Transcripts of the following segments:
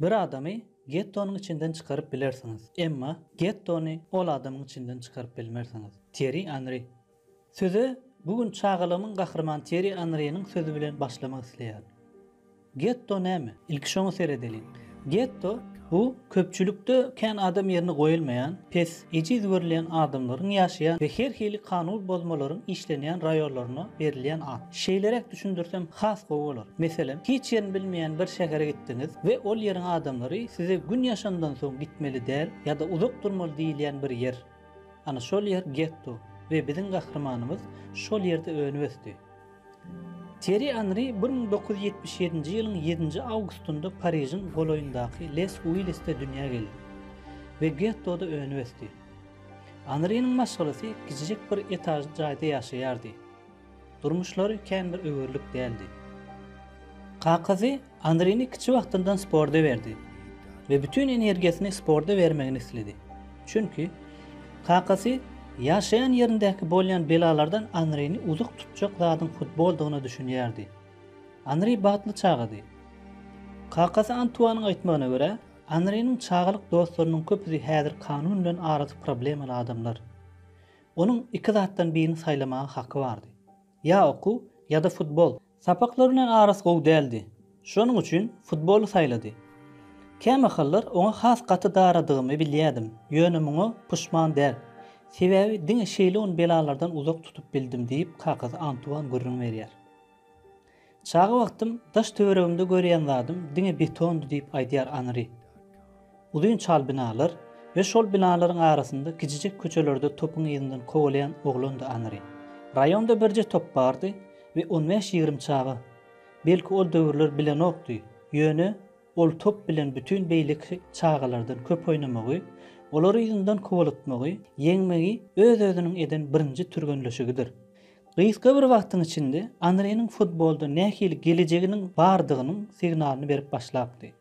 Bir adamy gettonyň içinden çykaryp bilersiňiz, emma gettony ol adamyň içinden çykaryp bilmersiňiz. Týerri Anri Söze bu gün çagalygymyň gahrymany Týerri Anriniň sözi bilen başlamak isleýärin. Getto näme? Ilki şoňa seredeliň. Getto, bu köpçülikde kän adam ýerine goýulmaýan, pes, Ejiz görülýän adamlaryň ýaşaýan we her hili kanun bozmalaryň işlenýän raýonlaryna berilýän at. Şeýleräk düşündirsem has gowy bolar. Meselem, hiç ýerini bilmeýän bir şähere gitdiňiz we ol ýeriň adamlary size gün ýaşandan soň gitmeli däl ýa-da uzak durmaly diýilýän bir ýer. Ana şol ýer getto we biziň gahrymanymyz şol ýerde önüp-ösdi. Týerri Anri bir müň dokuz ýüz ýetmiş ýedinji ýylyň ýedinji awgustynda Parižiň golaýyndaky Les Uillisde dünýä geldi we gettoda önüp-ösdi. Anriniň maşgalasy kiçijek bir etažly jaýda ýaşaýardy. Durmuşlary kän bir öwerlik däldi. Kakasy Anrini kiçi wagtyndan sporda berdi we bütin energiýasyny sporda bermegini isledi. Çünki, kakasy ýaşaýan ýerindäki bolýan belalardan Anrini uzak tutjak zadyň futboldygyna düşünýärdi. Anri bagtly çagady. Kakasy Antuanyň aýtmagyna görä, Anriniň çagalyk dostlarynyň köpüsi häzir kanun bilen arasy problemaly adamlar. Onuň iki zatdan birini saýlamaga haky bardy. Ýa okuw, ýa-da futbol. Sapaklary bilen arasy gowy däldi. Şonuň üçin futboly saýlady. Kämahallar oňa has gaty daradygymy bilýädim, ýöne muňa puşman däl. Sebäbi diňe şeýle ony belalardan uzak tutup bildim diýip, kakasy Antuan gürrüň berýär. Çaga wagtym daş-töweregimde görýän zadym diňe betondy diýip aýdýar Anri. Uzyn çal binalar we şol binalaryň arasynda kijijek köçelerde topuň yzyndan kowalaýan oglandy Anri. Raýonda birje top bardy we on bäş-ýigrimi çaga. Belki ol döwürler bilenokdy, ýöne ol top bilen bütin beýleki çagalardan köp oýnamagy, olary yzyndan kowalatmagy, ýeňmegi öz-özüniň eden birinji türgenleşigidir. Gysga bir wagtyň içinde Anriniň futbolda nähili gelejeginiň bardygynyň signalyny berip başlapdy.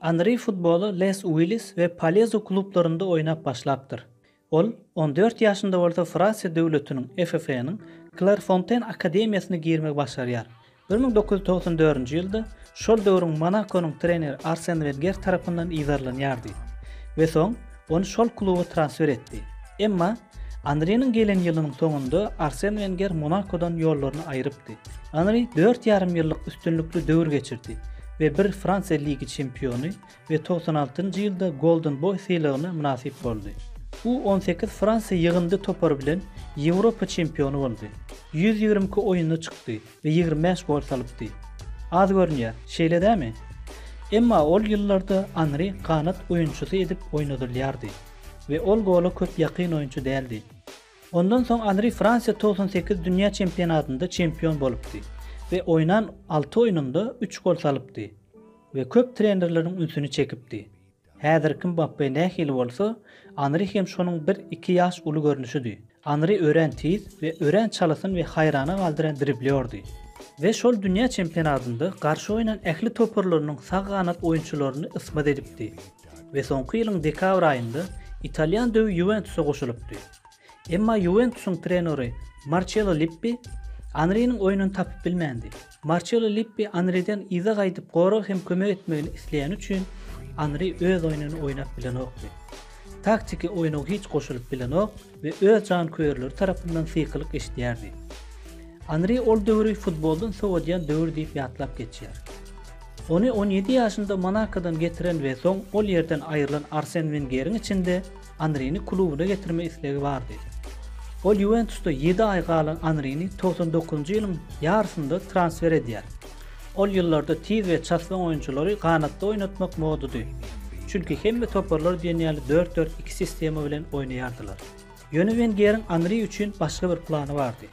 Anri futbola Les Uillis we Palezu klublarynda oýnap başlapdyr. Ol on dört ýaşynda bolsa Fransiýa döwletiniň, FFA-nyň, Klerfonten akademiýasyna girmegi başarýar Bir müň dokuz ýüz togsan dördünji ýylda şol döwrüň Monakonyň treneri Arsen Wenger tarapyndan yzarlanýardy we soň ony şol kluba transfer etdi. Emma Anriniň gelen ýylynyň soňunda Arsen Wenger Monakodan ýollaryny aýrypdy. Anri dört ýarym ýyllyk üstünlikli döwür geçirdi we bir Fransiýa ligi çempiony we togsan altynjy ýylda Golden Boý sylagyna mynasyp boldy. U on sekiz Fransiýa ýygyndy topary bilen Ýewropa çempiony boldy. Ýüz ýigrimi iki oýunda çykdy we ýigrimi bäş gol salypdy. Az görünýär, şeýle dämi? Emma ol ýyllarda Anri ganat oýunçysy edip oýnadylýardy we ol gola köp ýakyn oýunçy däldi. Ondan soň Anri Fransiýa togsan sekiz dünýä çempionatynda çempion bolupdy we oýnan alty oýnunda üç gol salypdy. we köp trenerleriň ünsüni çekipdi. Häzirki Mbappe nähili bolsa, Anri hem şonuň bir, iki ýaş uly görnüşidi. Anri örän tiz we örän çalasyn we haýrana galdyran driblýordy. We şol dünýä çempionatynda garşy oýnan ähli toparlarynyň sag ganat oýunçylaryny ysmaz edipdi. We soňky ýylyň dekabr aýynda italýan döwi Ýuwentusa goşulypdy. Emma Ýuwentusyň trenory Marçelo Lippi Anriniň oýnuny tapyp bilmändi. Marçelo Lippi Anriden yza gaýdyp gorag hem kömek etmegini isleýäni üçin Anri öz oýnuny oýnap bilenokdy. Taktiki oýna hiç goşulyp bilenok we öz janköýerleri tarapyndan sykylyk eşidýärdi. Anri ol döwri futboldan sowadýan döwür diýip ýatlap geçýär. Ony on ýedi ýaşynda Monakodan getiren we soň ol ýerden aýrylan Arsen Wengeriň içinde Anrini klubuna getirme islegi bardy. Ol Ýuwentusda ýedi aý galan Anrini togsan dokuzynjy ýylyň ýarysynda transfer edýär. Ol ýyllarda tiz we çaslyň oýunçylary ganatda oýnatmak modady. Çünki hemme toparlar diýen ýaly dört-dört-iki sistema bilen oýnaýardylar. Ýöne Wengeriň Anri üçin başga bir plany bardy.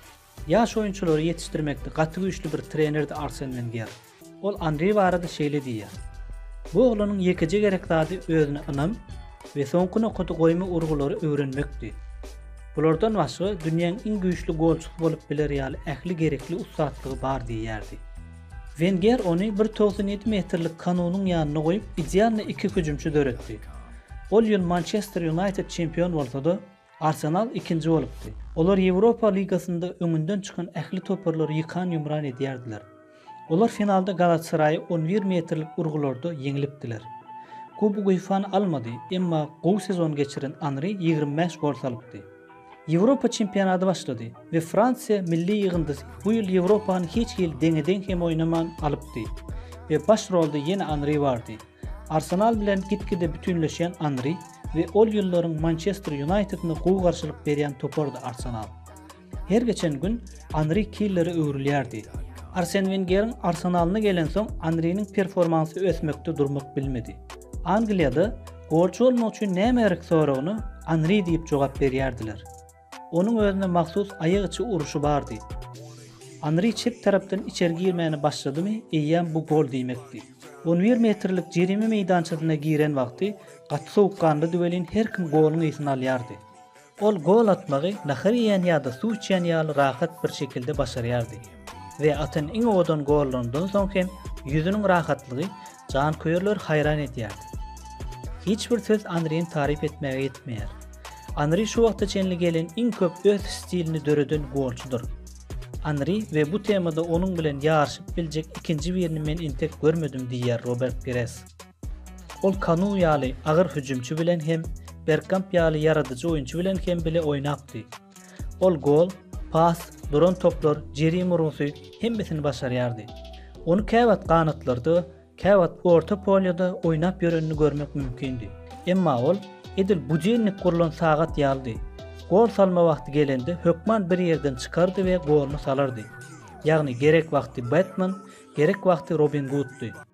Ýaş oýunçylary ýetişdirmekde gaty güýçli bir trenerdi Arsen Wenger. Ol Anri barada şeýle diýýär, Bu oglanyň ýekeje gerek zady özüne ynam we soňky nokady goýma urgulary öwrenmekdi. Bulardan başga dünýäň iň güýçli golçusy bolup biler ýaly ähli gerekli ussatlygy bar diýýärdi. Wenger ony bir togsan ýedi metrlik Kanunyň ýanyna goýup idealny iki hüjümçi döretdi. Ol ýyl Mançester Ýunaýted çempion bolsa-da, Arsenal ikinji bolupdy. Olar Ýewropa ligasynda öňünden çykan ähli toparlary ýykan-ýumran edýärdiler. Olar finalda Galatasaraýy on bir metrlik urgularda ýeňlipdiler. Kubok UEFA-ny almady, emma gowy sezon geçiren Anri ýigrimi bäş gol salypdy. Ýewropa çempionady başlady we Fransiýa milli ýygyndysy bu ýyl Ýewropany hiç hili deňe-deň hem oýnaman alypdy we baş rolda ýene Anri bardy. Arsenal bilen gitgide bütünleşýän Anri we ol ýyllaryň Mançester Ýunaýtedine gowy garşylyk berýän topardy Arsenal. Her geçen gün Anri killere öwrülýärdi. Arsen Wengeriň Arsenalyna gelensoň Anriniň performansy ösmekde durmak bilmedi. Angliýada golçy bolmak üçin näme gerek soragyna Anri diýip jogap berýärdiler. Onuň özüne mahsus aýak içi uruşy bardy. Anri çep tarapdan içeri girmäne başladymy, eýýäm bu gol diýmekdi. On bir metrlik jerime meýdançasyna giren wagty gaty sowukganlydy welin her kim goluň ysyn alýardy. Ol gol atmagy nahar iýen ýa-da suw içýän ýaly rahat bir şekilde başarýardy we atan iň owadan gollaryndan soň hem ýüzüniň rahatlygy Janköýerler haýran edýär. Hiç bir söz Anryny taryp etmäge ýetmeýär. Anry şu wagta çenli gelen iň köp öz stilini döreden golçydyr. Anry we bu temada onuň bilen ýaryşyp biljek ikinji birini men entek görmedim diýýär Robert Pires. Ol Kanu ýaly agyr hüjümçi bilen hem Bergkamp ýaly ýaradyjy oýunçy bilen hem bile oýnapdy. Ol gol, pas, duran toplar, jerime urgusy, hemmesini başarýardy. Ony käwagt ganatlarda, käwagt orta polýada oýnap ýörenini görmek mümkindi. Emma ol edil budennik gurlan sagat ýalydy. Gol salma wagty gelende hökman bir ýerden çykardy we goluny salardy. Ýagny gerek wagty Batman, gerek wagty Robin Guddy.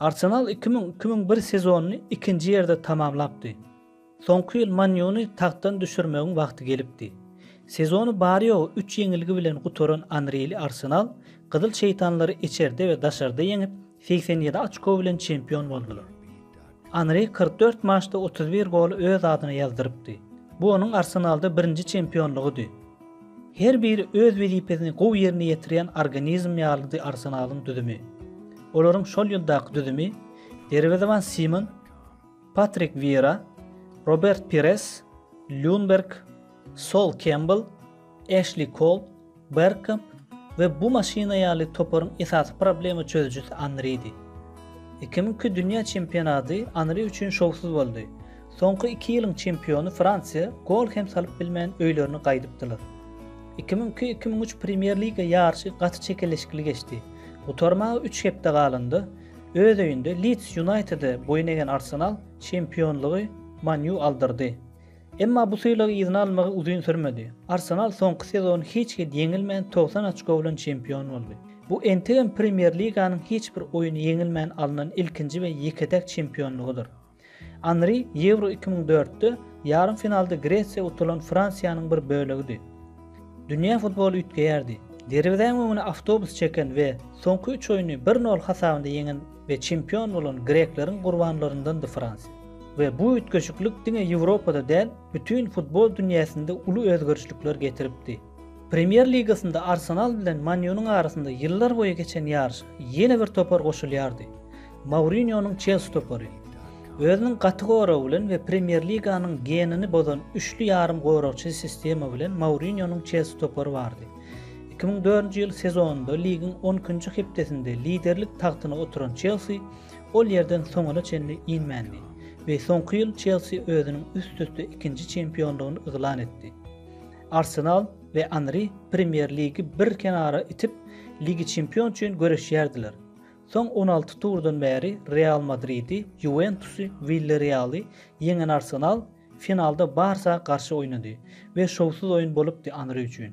Arsenal iki müň, iki müň bir sezonyny ikinji ýerde tamamlapdy. Soňky ýyl Man Ýuny tagtdan düşürmegiň wagty gelipdi. Sezony bary-ýogy üç ýeňilgi bilen gutaran Anrili Arsenal Gyzyl şeýtanlary içerde we daşarda ýeňip, segsen ýedi açko bilen çempion boldular. Anri kyrk dört maçda otuz bir goly öz adyna ýazdyrypdy. Bu onuň Arsenalda birinji çempionlygydy. Her biri öz wezipesini gowy ýerine ýetirýän organizm ýalydy Arsenalyň düzümi. Olaryň şol ýyldaky düzümi derwezeban Simon, Patrik Wiýera, Robert Pires, Lýunberg, Sol Kembel, Eşli Kol, Bergkamp we bu maşyna ýaly toparyň esasy problema çözüjisi Anridi. Iki müňki dünýä çempionaty Anri üçin şowsuz boldy. Soňky iki ýylyň çempiony Fransiýa gol hem salyp bilmän öýlerine gaýdypdylar. Iki müň iki, iki müň üç Premýer-liga ýaryşy gaty çekeleşikli geçdi. Gutarmaga üç hepde galanda, öz öýünde Lids Ýunaýtede boýun egen Arsenal çempionlygy Man Ýu aldyrdy. Emma bu sylagy yzyna almagy uzyn sürmedi. Arsenal soňky sezon hiç hil ýeňilmän togsan oçko bilen çempion boldy. Bu entegem Premýer-liganyň hiç bir oýny ýeňilmän alnan ilkinji we ýeke-täk çempionlygydyr. Anri Ýewro iki müň dörtde ýarym finalda Gresiýa utulan Fransiýanyň bir bölegidi. Dünýä futboly üýtgeýärdi. Derwezäň öňüne awtobus çeken we soňky üç oýny bir nol hasabynda ýeňen we çempion bolan grekleriň gurbanlaryndandy Fransiýa. We bu üýtgeşiklik diňe Ýewropada däl, bütin futbol dünýäsinde uly özgerişlikler getiripdi. Premýer ligasynda Arsenal bilen Man Ýunyň arasynda ýyllar boýy geçen ýaryşa ýene bir topar goşulýardy, Mourinýonyň Çelsi topary. Özüniň gaty goragy bilen we Premýer liganyň genini bozan üçli ýarym goragçy sistema bilen Mourinýonyň Çelsi topary bardy. Iki müň dördünji ýyl sezonynda ligiň on ikinji hepdesinde liderlik tagtyna oturan Çelsi ol ýerden soňuna çenli inmändi we soňky ýyl Çelsi özüniň üst-üste ikinji çempionlygyny yglan etdi. Arsenal we Anri Premýer Ligi bir kenara itip, Ligi Çempion üçin göreşýärdiler. Soň on alty turdan bäri Real Madridi, Ýuwentusy, Williarrealy ýeňen Arsenal finalda Barsa garşy oýnady we şowsuz oýun bolupdy Anri üçin.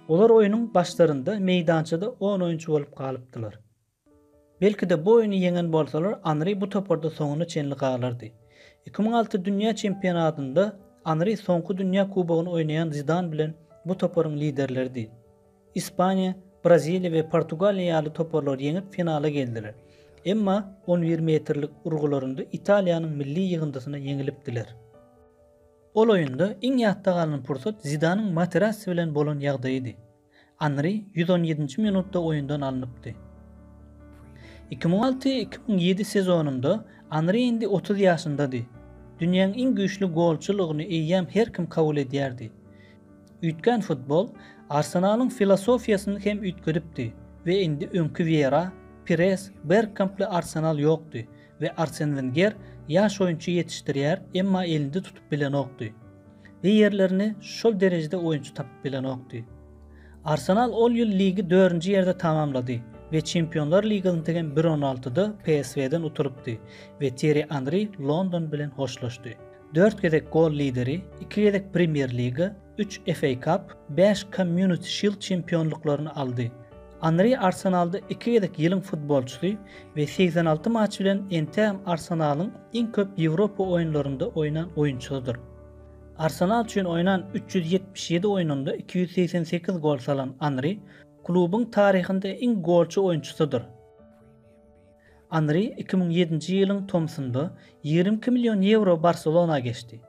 Olar oýnuň başlarynda meýdançada on oýunçy bolup galypdylar. Belki-de, bu oýny ýeňen bolsalar, Anri bu toparda soňuna çenli galardy. Iki müň alty dünýä çempionatynda Anri soňky dünýä kubogyny oýnaýan Zidan bilen bu toparyň liderleridi. Ispaniýa, Braziliýa we Portugaliýa ýaly toparlary ýeňip finala geldiler. Emma on bir metrlik urgularynda Italiýanyň milli ýygyndysyna ýeňilipdiler. Ol oýunda iň ýatda galan pursat Zidanyň Materazzi bilen bolan ýagdaýydy. Anri ýüz on ýedinji minutda oýundan alnypdy. Iki müň alty, iki müň ýedi sezonynda Anri indi otuz ýaşyndady. Dünýäň iň güýçli golçulygyny eýýäm her kim kabul edýärdi. Üýtgän futbol Arsenalyň filosofiýasyny hem üýtgedipdi we indi öňki Wiera, Pires, Bergkamply Arsenal ýokdy, we Arsen Wenger ýaş oýunçy ýetişdirýär, emma elinde tutup bilenokdy we ýerlerini şol derejede oýunçy tapyp bilenokdy. Arsenal ol ýyl ligi dördünji ýerde tamamlady we Çempionlar ligasyntegem bir on altyda PSV-den utulypdy we Týerri Anri London bilen hoşlaşdy. Dört gezek gol lideri, iki gezek Premýer-liga, üç FA Cup, bäş Community Shield çempionlyklaryny aldy. Anri Arsenalda iki gezek ýylyň futbolçysy we segsen alty matç bilen entegem Arsenalyň iň köp Ýewropa oýunlarynda oýnan oýunçysydyr. Arsenal üçin oýnan üç ýüz ýetmiş ýedi oýnunda iki ýüz segsen sekiz gol salan Anri klubuň taryhynda iň golçy oýunçysydyr. Anri iki müň ýedinji ýylyň tomsunda ýigrimi iki million ýewro Barselona geçdi.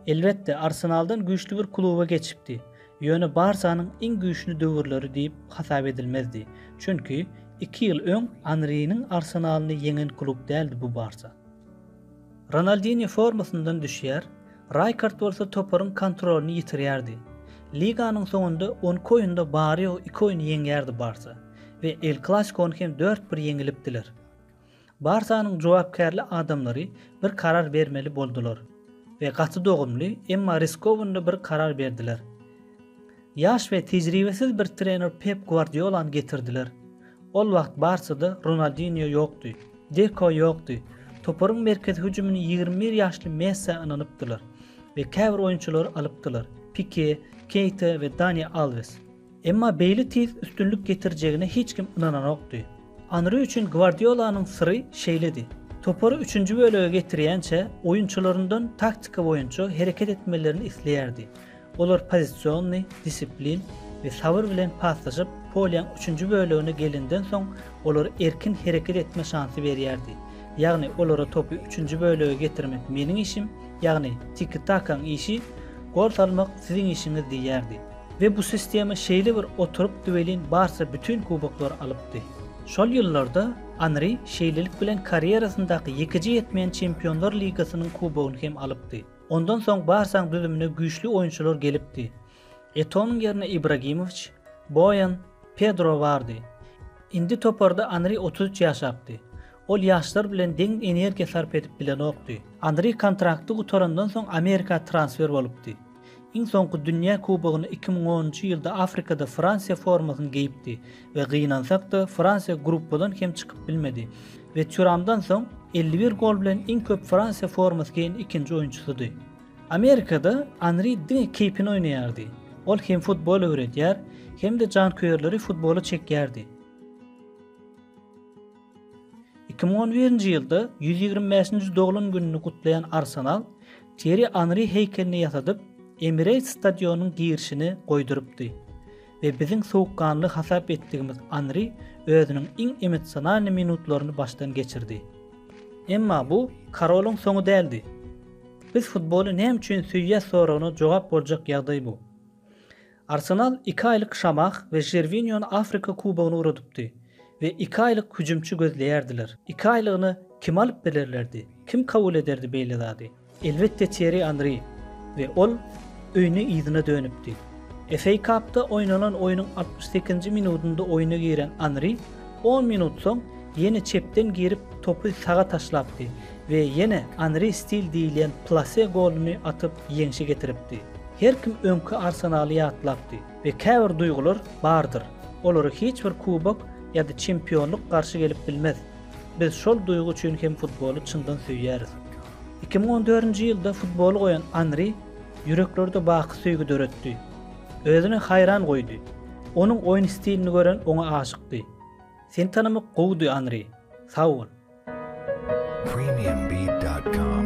Elbetde, Arsenaldan güýçli bir kluba geçipdi, ýöne Barsanyň iň güýçli döwürleri diýip hasap edilmezdi, çünki iki ýyl öň Anriniň Arsenalyny ýeňen klub däldi bu Barsa. Ronaldinýo formasyndan düşýär, Raýkard bolsa toparyň kontrolyny ýitirýärdi. Liganyň soňunda on iki oýunda bary-ýogy iki oýny ýeňýärdi Barsa we El Klasikony hem dört-bir ýeňilipdiler. Barsanyň jogapkärli adamlary bir karar bermeli boldular we gaty dogumly, emma riskowny bir karar berdiler. Ýaş we tejribesiz bir trener Pep Gwardiolany getirdiler. Ol wagt Barsada Ronaldinýo ýokdy, Deko ýokdy, toparyň merkezi hüjümini ýigrimi bir ýaşly Messä ynanypdylar we käbir oýunçylary alypdylar, Pike, Keýta we Dani Alwes. Emma beýle tiz üstünlik getirjegine hiç kim ynananokdy. Anri üçin Gwardiolanyň syry şeýledi. Topary üçünji bölege getirýänçä oýunçylaryndan taktika boýunça hereket etmelerini isleýärdi. Olar pozisionny, disiplin we sabyr bilen paslaşyp, polýaň üçünji bölegine gelenden soň olara erkin hereket etme şansy berýärdi. Ýagny olara topy üçünji bölege getirmek meniň işim, ýagny tiki-takaň işi, gol salmak siziň işiňiz diýýärdi. We bu sistema şeýle bir oturypdy welin Barsa bütin kuboklary alypdy. Şol ýyllarda Anri şeýlelik bilen karýerasyndaky ýekeje ýetmeýän Çempionlar ligasynyň kubogyny hem alypdy. Ondan soň Barsaň düzümine güýçli oýunçylar gelipdi. Etonyň ýerine Ibragimowiç, Boýan, Pedro bardy. Indi toparda Anri otuz üç ýaşapdy. Ol ýaşlar bilen deň energiýa sarp edip bilenokdy. Anri kontrakty gutarandan soň Amerika transfer bolupdy. Iň soňky Dünýä Kubogyny iki müň onunjy ýylda Afrikada Fransiýa formasyny geýipdi we gynansak-da, Fransiýa gruppadan hem çykyp bilmedi we Týuramdan soň elli bir gol bilen iň köp Fransiýa formasy geýen ikinji oýunçysydy. Amerikada Anri diňe keýpine oýnaýardy. Ol hem futbol öwredýär, hem-de janköýerleri futbola çekýärdi. Iki müň on birinji ýylda ýüz ýigrimi bäşinji doglan gününi gutlaýan Arsenal Týerri Anri heýkelini ýasadyp, Emirates stadionynyň girişine goýdurypdy we biziň sowukganly hasap etdigimiz Anri özüniň iň emosionalny minutlaryny başdan geçirdi. Emma bu Karolyň soňy däldi. Biz futboly näme üçin söýýäs soragyna jogap boljak ýagdaý bu. Arsenal iki aýlyk Şamah we Žerwiniony Afrika kubogyna ugradypdy we iki aýlyk hüjümçi gözleýärdiler. Iki aýlygyny kim alyp bilerlerdi? Kim kabul ederdi beýle zady? Elbetde Týerri Anri we ol öýüne yzyna dönüpdi. FA Cupda oýnanan oýnuň altmyş sekizinji minudynda oýna giren Anri On minut soň ýene çepden girip topy saga taşlapdy we ýene Anri stil diýilýän plase goluny atyp ýeňşe getiripdi. Her kim öňki Arsenaly ýatlapdy we käbir duýgular bardyr, olara hiç bir kubok ýa-da çempionlyk garşy gelip bilmez. Biz şol duýgy üçin hem futboly çyndan söýýäris. Iki müň on dördünji ýylda futboly goýan Anri ýüreklerde baky söýgi döretdi. Özüne haýran goýdy. Onuň oýun stilini gören oňa aşykdy. Seni tanamak gowudy, Anri. Sag bol. premiumbeat.com